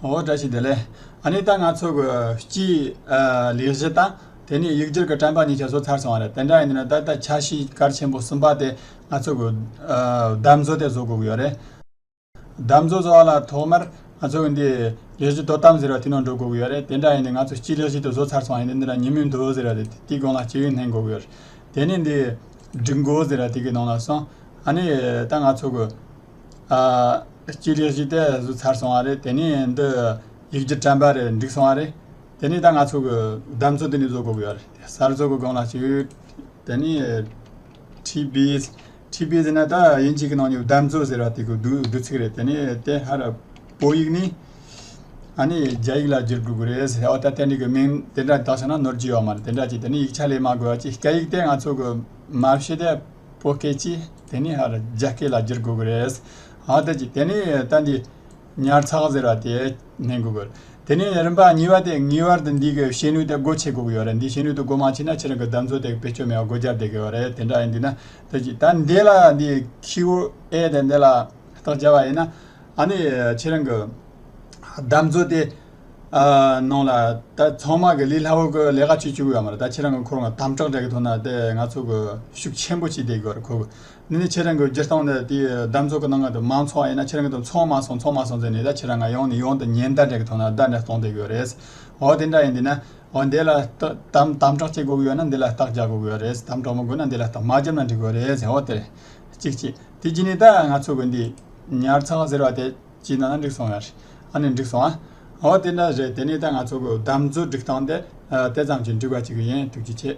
ངོ་བོ་བཀྲ་ཤིས་བདེ་ལེགས། ཨ་ནི་ད་ང་ཚོ་གི་སྤྱིའི་ལས་གཞི་དང་དེ་ནས་ཡིག་སྒྱུར་གྱི་དྲན་པ་གཉིས་ཀྱང་བཟོ་ཚར་སོང་བ་རེད་དེ་འདྲ་ཡིན་ན་ད་ལྟ་ཆ་ཤས་གར་ཆེན་པོ་གསུམ་པ་དེ་ང་ཚོ་གི་བརྡབ་མཛོ་དེ་བཟོ་དགོས་ཀྱི་ཡོད་རེད། བརྡབ་མཛོ་བཟོ་བ་ལ་ཐོག་མར་ང་ཚོ་གི་འདི་ལས་གཞི་དོ་དམ་ཟེར་བ་དེ་ནང་འགྲོ་དགོས་ཀྱི་ཡོད་རེད་དེ་འདྲ་ཡིན་ན་ང་ཚོ་སྤྱིའི་ལས་གཞི་དེ་བཟོ་ཚར་སོང་བ་ཡིན་ན་འདི་ན་ཉིན་མོའི་མདོ་ཟེར་བ་དེ་དེའི་སྒང་ལ་སྤྱི་ཡོན་ལྷན་དགོས་ཀྱི་ཡོད་རེད་དེ་ནས་འདི་སྒྲིག་འགོ་ཟེར་བ་དེ་གི་ནང་ལ་སོང་ཨ་ནི་ད་ང་ཚོ་གི། ཅི་རེད་ཅི་བལྟས་བཟོས་ཚར་སོང་བ་རེད་དེ་ནས་འདི་ཡིག་རྒྱུགས་དྲན་པ་རེད་འགྲིག་སོང་བ་རེད་དེ་ནས་ད་ང་ཚོ་གི་གདམས་ཚོད་འདི་ནས་བཟོ་དགོས་ཀྱི་ཡོད་རེད་དེ་གསར་བཟོ་གི་སྒང་ལ་བྱོས་དེ་ནས་ཁྲིད་པས་ཁྲིད་པས་ཟེར་ན་ད་དབྱིན་ཇིག་གི་ནང་ནས་གདམས་ཚོད་ཟེར་བ་དེ་གི་བསྡུ་བསྡུ་ཚིག་རེད་དེ་ནས་དེ་ཧ་ར་བོད་ཡིག་ནི་ཨ་ནི་རྒྱ་ཡིག་ལ་བསྒྱུར་དགོས་ཀྱི་རེད་ཟེར་ཨོ་ད་དེ་འདྲ་གི་མིང་དེ་འདྲ་གདགས་སོང་ན་ནོར་གྱི་ཡོད་མ་རེད་དེ་འདྲ་ཅིག་དེ་ནས་ཡིག་ཆ་ལས་མ་དགོས་པ་ཅིག་སྐད་ཡིག་དེ་ང་ཚོ་གི་མ་ཤེས་དེ་པོ་སྐད་ཅིག་དེ་ནི་ཧ་ལ་རྒྱ་སྐད་ལ་བསྒྱུར་དགོས་ཀྱི་རེད། ཧ་དེ་ཅིག་དེ་ནི་ལྟ་འདི། ཉར་ཚགས་ཟེར་བ་དེ་ནན་དགོས་ཀྱི་རེད། དེ་ནི་རིམ་པ་གཉིས་པ་དེ་ངེས་བར་དུ་འདི་གའི་བཤད་ནུས་དེ་སྒོ་ཕྱེ་དགོས་ཀྱི་ཡོད་རེད་འདི་བཤད་ནུས་དེ་སྒོ་མ་ཕྱེ་ན་ཁྱེད་རང་གི་གདམ་ཚོད་དེ་བེད་སྤྱོད་མེད་པར་སྒོ་བརྒྱབ་བསྡད་ཀྱི་ཡོད་རེད་དེ་འདྲ་ཡིན་དུས་ན་ལྟ་ཅིག་ད་འདི་ལ་འདི QA དེ་འདི་ལ་རྟགས་བྱ་བ་ཡིན་ན། ཨ་ནི་ཁྱེད་རང་གི་གདམ་ཚོད་དེ། གནང་ལ། ད་ཚང་མ་གི་ལི་ལྷ་བོ་གི་ལས་ཀ་བྱེད་བཅུག་ཡོད་མ་རེད་ད་ཁྱེད་རང་གི་འཁོར་ང་དམ་དྲག་འདྲ་གི་ཐོག་ན་དེ་ང་ཚོ་གི་ཤུགས་ཆེན་པོ་བྱེད་བསྡད་གི་རེད་ཁོ་གི། འདི་ནི་ཁྱེད་རང་གི་སྤྱིར་བཏང་ནི་དེའི་གདམ་ཚོགས་ཀི་ནང་གི་མང་ཚོགས་ཡིན་ན་ཁྱེད་རང་གི་དང་ཚོགས་མ་སོང་ཚོགས་མ་སོང་ཟེར་ནས་ད་ཁྱེད་རང་ང་ཡོང་ནི་ཡོང་དུ་ཉེན་བརྡ་འདྲ་གི་ཐོག་ན་བརྡ་འདྲ་གཏོང་བསྡད་གི་རེད། འོ་དེ་འདྲ་ཡིན་དུས་ན། འོ་འདི་ལ་དམ་དམ་དྲག་བྱེད་དགོས་གི་ཡོད་ན་འདི་ལ་རྟགས་རྒྱག་དགོས་གི་རེད་དམ་དྲག་མ་དགོས་ན་འདི་ལ་རྟགས་མ་རྒྱབ་ན་འགྲིག་གི་རེད་ཟེར་འོ་དེ་རེད། ཅིག་ཅིག་དེ་རྗེས་ནས་ད་ང་ཚོ་གི་འདི་ཉར་ཚགས་ཟེར་བ་དེ། སྐྱིད་ན་འགྲིག་སོང་ཡ་རེད་ཨ་ནི་འགྲིག་སོང་ཨ། འོ་དེ་འདྲ་རེད་དེ་ནས་ད་ང་ཚོ་གོ་བདམས་མཛོད་སྒྲིག་སྟངས་དེ་ལྟ་ཙམ་གྱིས་འགྲིག་པ་ཅིག་ཡིན་ཐུགས་རྗེ་ཆེ།